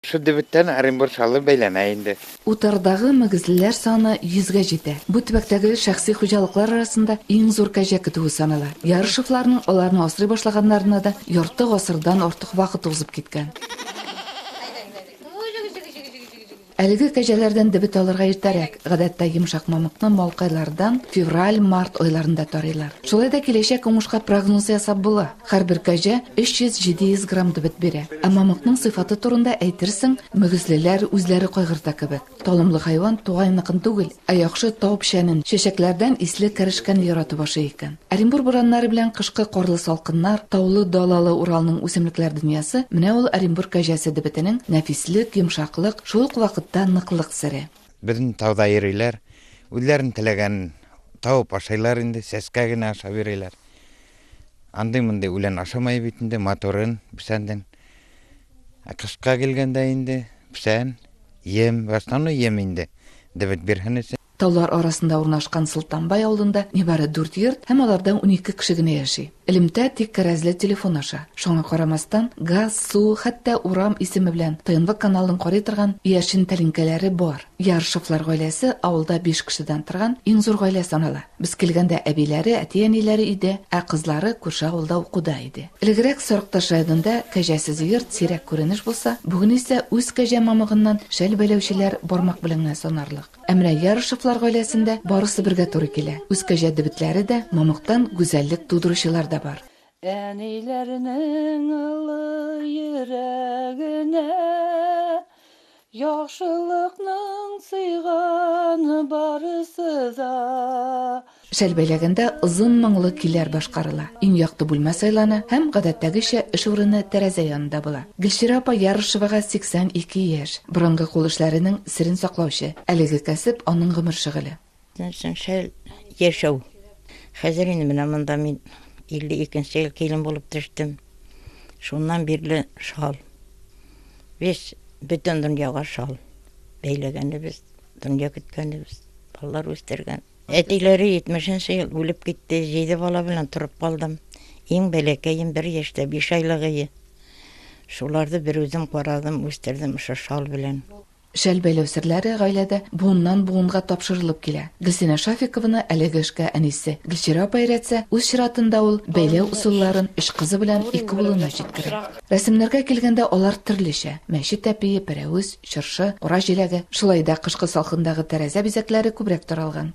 Шул дебеттән Оренбур шалы бәйләнә инде. Утардагы мөгезлеләр саны йөзгә җитә. Бу төбәктәге шәхси хуҗалыклар арасында иң зур кәҗә көтүе санала. Ярышевларның аларны асрый башлаганнарына да ярты гасырдан артык вакыт узып киткән. Әлеге кәҗәләрдән дебет алырга иртәрәк, гадәттә йомшак мамыкны малкайлардан февраль-март айларында тарыйлар. Шулай да киләчәк уңышка прогноз ясап була. Һәрбер кәҗә 300-700 грамм дебет бирә. Ә мамыкның сыйфаты турында әйтерсең, мөгезлеләр үзләре кайгырта кебек. Талымлы хайван тугаеныкын түгел, ә яхшы тау печәнен, чәчәкләрдән исле кәрешкәне яратып ашый икән. Оренбур бураннары белән кышкы карлы салкыннар, таулы-далалы Уралның үсемлекләр дөньясы, менә ул Оренбур кәҗәсе дебетенең нәфислек, йомшаклык, шул ук вакытта ныклык сере. Безне тауда йөриләр, үзләренең теләгәнен табып ашыйлар инде, сәскә генә ашап йөриләр. Андый мондый үлән ашамай бит инде, моторын, псәнден. Ә кышка килгәндә инде псән, ем, в основном ем инде. Дебет бирһенесе. Таулар арасында урнашкан Солтанбай авылында нибары дүрт йорт һәм аларда унике кеше генә яши. Элемтә тик кәрәзле телефон аша. Шуңа карамастан, газ, су, хәтта урам исеме белән ТНВ каналын карый торган яшен тәлинкәләре бар. Ярышевлар гаиләсе авылда биш кешедән торган иң зур гаилә санала. Без килгәндә әбиләре, әти-әниләре иде, ә кызлары күрше авылда укуда иде. Элегрәк Сарыкташ районында кәҗәсез йорт сирәк күренеш булса, бүген исә үз кәҗә мамыгыннан шәл бәйләүчеләр бармак белән генә санарлык. Ә менә Ярышевлар гаиләсендә барысы бергә туры килә. Үз кәҗә дебетләре дә, мамыктан гүзәллек тудыручылар да бар. Әниләрнең олы йөрәгенә Яхшылыкның сыйганы барысы да. Шәл бәйләгәндә озын моңлы көйләр башкарыла. Иң якты бүлмә сайлана һәм, гадәттәгечә, эш урыны тәрәзә янында була. Гөлчирә апа Ярышевага 82 яшь, борынгы кул эшләренең серен саклаучы. Әлеге кәсеп, аның гомер шөгыле. Нәрсәң шәл яшәү. Хәзер инде менә монда мин 52 нче ел килен булып төштем. Шуннан бирле шал. Без бөтен дөньяга шал бәйләгәнебез, дөнья көткәнебез, балалар үстергән. Әтиләре 70 нче ел үлеп китте, җиде бала белән торып калдым. Иң бәләкәем бер яшьтә, биш айлыгые. Шуларны берүзем карадым, үстердем шушы шал белән. Шәл бәйләү серләре гаиләдә буыннан-буынга тапшырылып килә. Гөлсинә Шафикованы әлеге эшкә әнисе Гөлчирә апа өйрәтсә, үз чиратында ул бәйләү усылларын өч кызы белән ике улына җиткерә. Рәсемнәргә килгәндә, алар төрлечә, мәчет әпие, пәрәвез, чыршы, кура җиләге, шулай да кышкы салкындагы тәрәзә бизәкләре күбрәк таралган.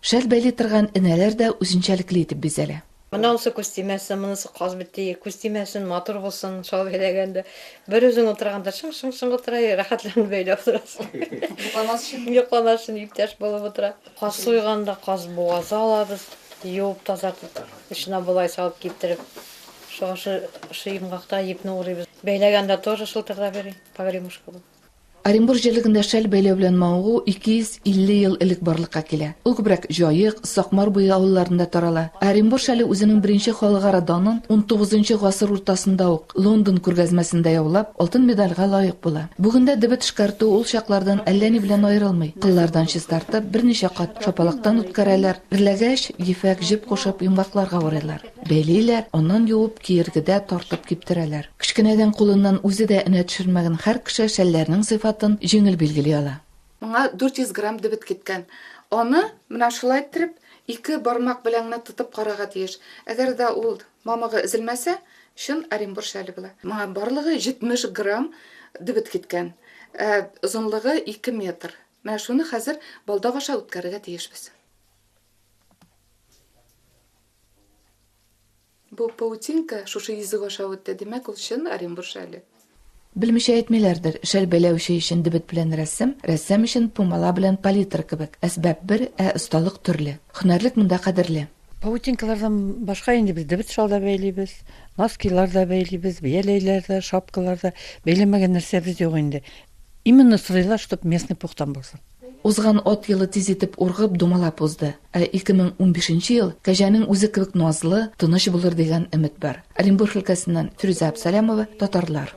Шәл бәйли торган энәләр дә үзенчәлекле итеп бизәлә. Монысы күз тимәсен, монысы каз бите, күз тимәсен, матур булсын, шал бәйләгәндә. Бер үзең утырганда шың-шың-шың утыра, рәхәтләнеп бәйләп утырасың. Йокламас өчен. Йокламас өчен иптәш булып утыра. Каз суйганда каз бугазы алабыз, юып, тазартып, эченә болай салып киптереп, шушы йомгакта ипне урыйбыз. Бәйләгәндә тоже шылтырдап йөри, погремушка булып. Оренбур җирлегендә шәл бәйләү белән мавыгу 250 ел элек барлыкка килә. Ул күбрәк Җаек, Сакмар буе авылларында тарала. Ә Оренбур шәле үзенең беренче халыкара данын унтугызынчы гасыр уртасында ук Лондон күргәзмәсендә яулап, алтын медальгә лаек була. Бүгендә дебет эшкәртү ул чаклардан әллә ни белән аерылмый. Кыллардан чистартып, берничә кат шапалактан үткәрәләр, эрләгәч, ефәк җеп кушып, йомгакларга урыйлар. Бәйлиләр, аннан юып, киергедә тартып киптерәләр. Кечкенәдән кулыннан үзе дә энә төшермәгән һәр кеше шәлләрнең сыйфатын җиңел билгели ала. Моңа 400 грамм дебет киткән. Аны менә шулай иттереп, ике бармак белән генә тотып карарга тиеш. Әгәр дә ул мамыгы өзелмәсә, чын Оренбур шәле була. Моңа барлыгы 70 грамм дебет киткән. Ә озынлыгы ике метр. Менә шуны хәзер балдак аша үткәрергә тиешбез. Бу паутинка шушы йөзек аша үтте, димәк, ул чын Оренбур шәле. Белмичә әйтмиләрдер, шәл бәйләүче өчен дебет белән рәсем, рәссам өчен пумала белән палитра кебек, әсбап бер, ә осталык төрле. Һөнәрлек монда кадерле. Паутинкалардан башка инде без дебет шал да бәйлибез, носкилар да бәйлибез, бияләйләр дә, шапкалар да. Бәйләмәгән нәрсәбез юк инде. Именно сорыйлар, чтоб местный пухтан булсын. Узган ат елы тиз итеп ургып, думалап узды. Ә 2015 ел кәҗәнең үзе кебек назлы, тыныч булыр дигән өмет бар. Оренбург өлкәсеннән Фирүзә Абсалямова, Татарлар.